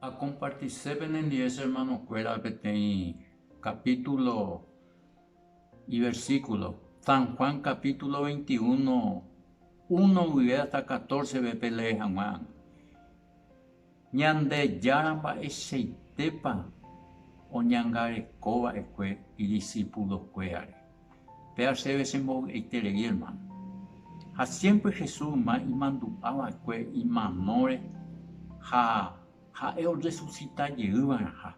Akompartise penendive che ermanokuéra peteĩ kapítulo iversíkulo. San Juan kapítulo veinti uno, uno guive hasta katórsepe pelee hag̃ua. Ñandejára mba'eichaitépa oñangarekova'ekue idisipulokuérare? Péa chéve che mbovy'aiterei hermano. Ha siémpre Jesús yma imandu'a va'ekue imanóre ha ha'e orresusita jey va'erãha.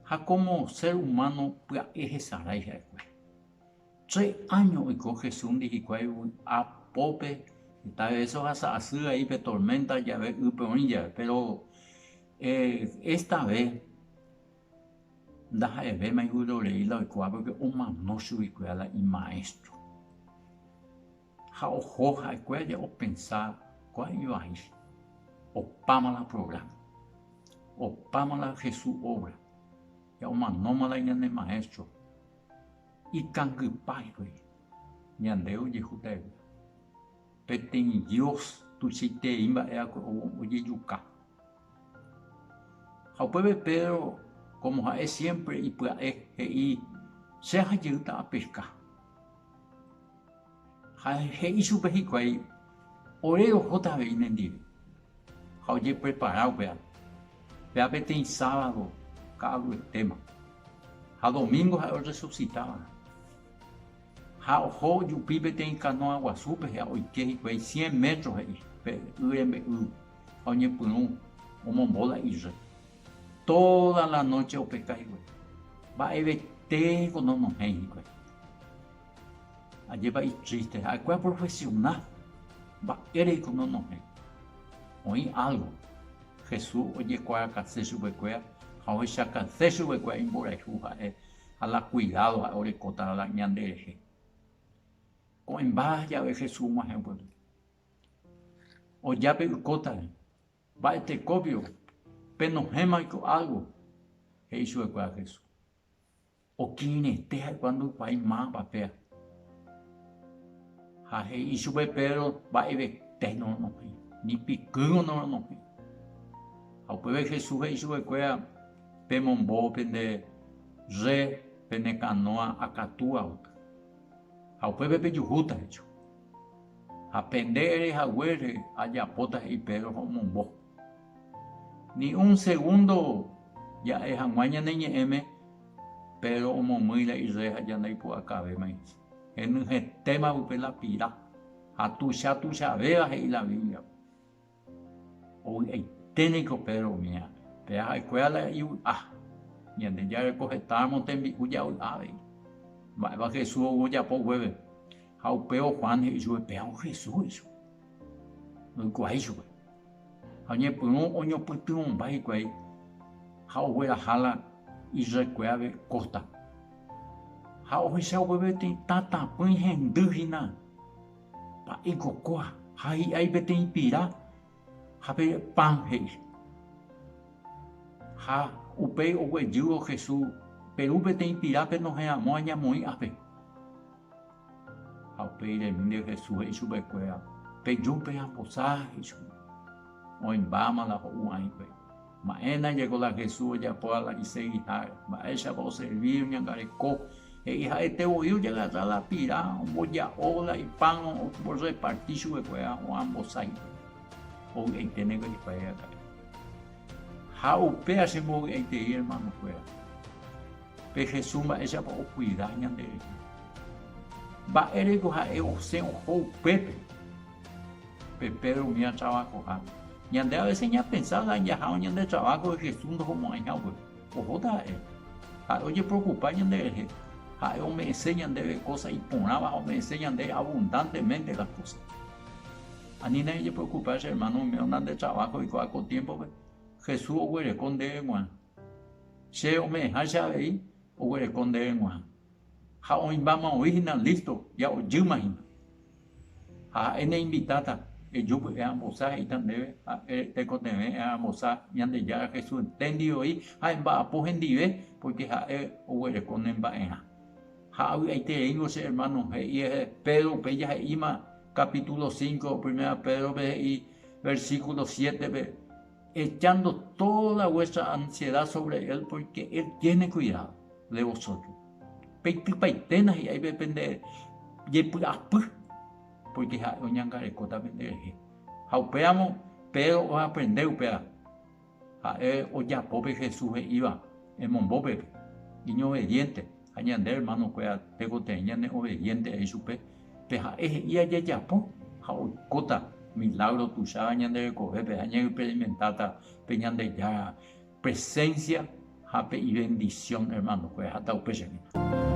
Ha kómo sér umáno pya'e hesarái ha'ekuéra. Tre áño oiko Jesúsndi hikuái vy'a pópe heta vése ohasa asy vai pe torménta jave ýpe oĩ jave. Péro esta vé Ndaha'evéma ivyrorei la oikuaa pórke omano chuguikuéra la imaéstro. Ha oho ha'ekue aja opensa kóa ivai, opáma la prográma, opáma la Jesús óvra, ya omanóma la ñane Maéstro, ikangypa hikuái ñande ojehu ta'evy. Peteĩ Dios tuichaiterei mba'e va'ekue ojejuka. Ha upépe Pedro, kómo ha'e siémpre ipya'e, he'i, Che ahajeyýta apeska. Ha he'i chupe hikuái, Ore rohóta avei nendive. Ha ojeprepara upéva. Péva peteĩ sábado ka'aguyetema. Ha domíngo ha'e orresusita va'erã. Ha oho jupi peteĩ kanóa guasúpe ha oike hikuái cien métro he'i pe y rembe'ýgui ha oñepyrũ omombo la irre. Tóda la nóche opeka hikuái. Mba'evete niko nonohẽi hikuái. Ajépa itríste! Ha'ekuéra oprofesiona. Mba'ére niko nonohẽ. Oĩ álgo. Jesús ojekuaakase chupekuéra ha ohechakãse chupekuéra imborayhu ha'e ha la kuidádo ha'e orekóta la ñanderehe. Ko'ẽmba jave Jesús og̃uahẽ upépe, oja pe ykótare, mba'e tekópio penohẽma oiko álgo, he'i chupekuéra Jesús. Okirirẽite ha'ekuéra ndoikuaái máva péva. Ha he'i chupe Pedro mba'evete noronohẽ, ni pikýrõ noronohẽ. Ha upépe Jesús he'i chupekuéra, pemombo pende rre pene kanóa akatúva oky, ha upépe pejuhúta hecho. Ha pende ere haguére ajapóta he'i Pedro ha omombo. Ni un segundo ja'e hag̃ua ñane ñe'ẽme, Pedro omomýi la irre ha ja ndaipu'akavéma ichie. Henyhẽtéma upe la pira ha tuicha tuichavéva he'i la Biblia-pe. Ovy'aite niko Pedro umi ápe, pe ha'ekuéra la ivy'a. Ñandejára ko hetáramo tembi'u javy'a avei. Mba'épa Jesús ou ojapo guéve? Ha upévo Juan he'i chupe, Péva ou Jesús, he'i chupe. Ndoikuaa ichupe. Ha oñepyrũ oñopytyvõmba hikuái ha ogueraha la Israelkuérape kóstape. Ha ohecha upépe tetã tapỹi hendy hína. Pa'i cocoa ha hi'ai peteĩ pira ha pe pan he'i. Ha upéi oguejývo Jesús, Peru peteĩ pirápe nohẽramo añamoĩ'ape. Ha upéi remínte Jesús he'i chupekuéra, Peju pe'ambosa, he'i chupe. Oĩmbáma la ho'u aĩpe. Mba'éna jeko la Jesús ojapo ala isegi ha'e, mba'éichapa oservi, oñangareko. He'i ha'ete voi ojagasa la pira, omboja'o la ipan orreparti chupekuéra hag̃ua ambosái hikuái. Mbovy'aiténe niko ajepa'e aka'e. Ha upéva chembovy'aitei ermanokuéra, pe Jesús mba'éichapa okuida ñanderehe. Mba'éreiko ha'e osẽ oho upépe. Pe Pedro umi atravahoha. Ñande avese ñapensa la jaháva ñande traváhore Jesús ndohomo'ãiha upépe. Ohóta ha'e. Ha'e ojeprokupa ñanderehe. Ha'e ome'ẽse ñandéve kósa iporãva ha ome'ẽse ñande abundántemente las kósas. Anína ejeprokupa che ermáno oimérõ nande traváho oikuaa ko tiémpope, Jesús oguereko ndéve g̃uarã. Che ome'ẽháicha avei, oguereko ndéve g̃uarã. ha oĩmbáma oĩ hína lísto ya ojýma hína. Ha ha'e neinvitáta, Eju py'e ambosa, he'íta ndéve, ha eretekotevẽ'e ambosa Ñandejára Jesús enténdi voi ha emba'apo hendive, pórke ha'e oguereko ne mba'erã. Ha avy'aitereíngo che ermáno, he'ihe Pedro upéi jahe'íma kapítulo cinco Primera Pédrope he'i versíkulo siétepe, Echando tóda vuétra ansieda sóvre él, pórke él tiéne kuidádo de vosótro. Peitypaite nahi'ái pe pende jepy'apy, pórke ha'e oñangarekóta penderehe. Ha upéramo Pedro oaprende upéva ha'e ojapo pe Jesús he'íva, Emombo pepi, iñovediénte. ha ñande ermanokuéra tekotevẽ ñaneoveviénterai chupe, pe ha'e he'i ajejapo ha oikóta milágro tuicháva ñande rekovépe ha ñaexperimentáta pe Ñandejára presénsia ha pe ivendisión ermanokuéra. Hata upe che vida.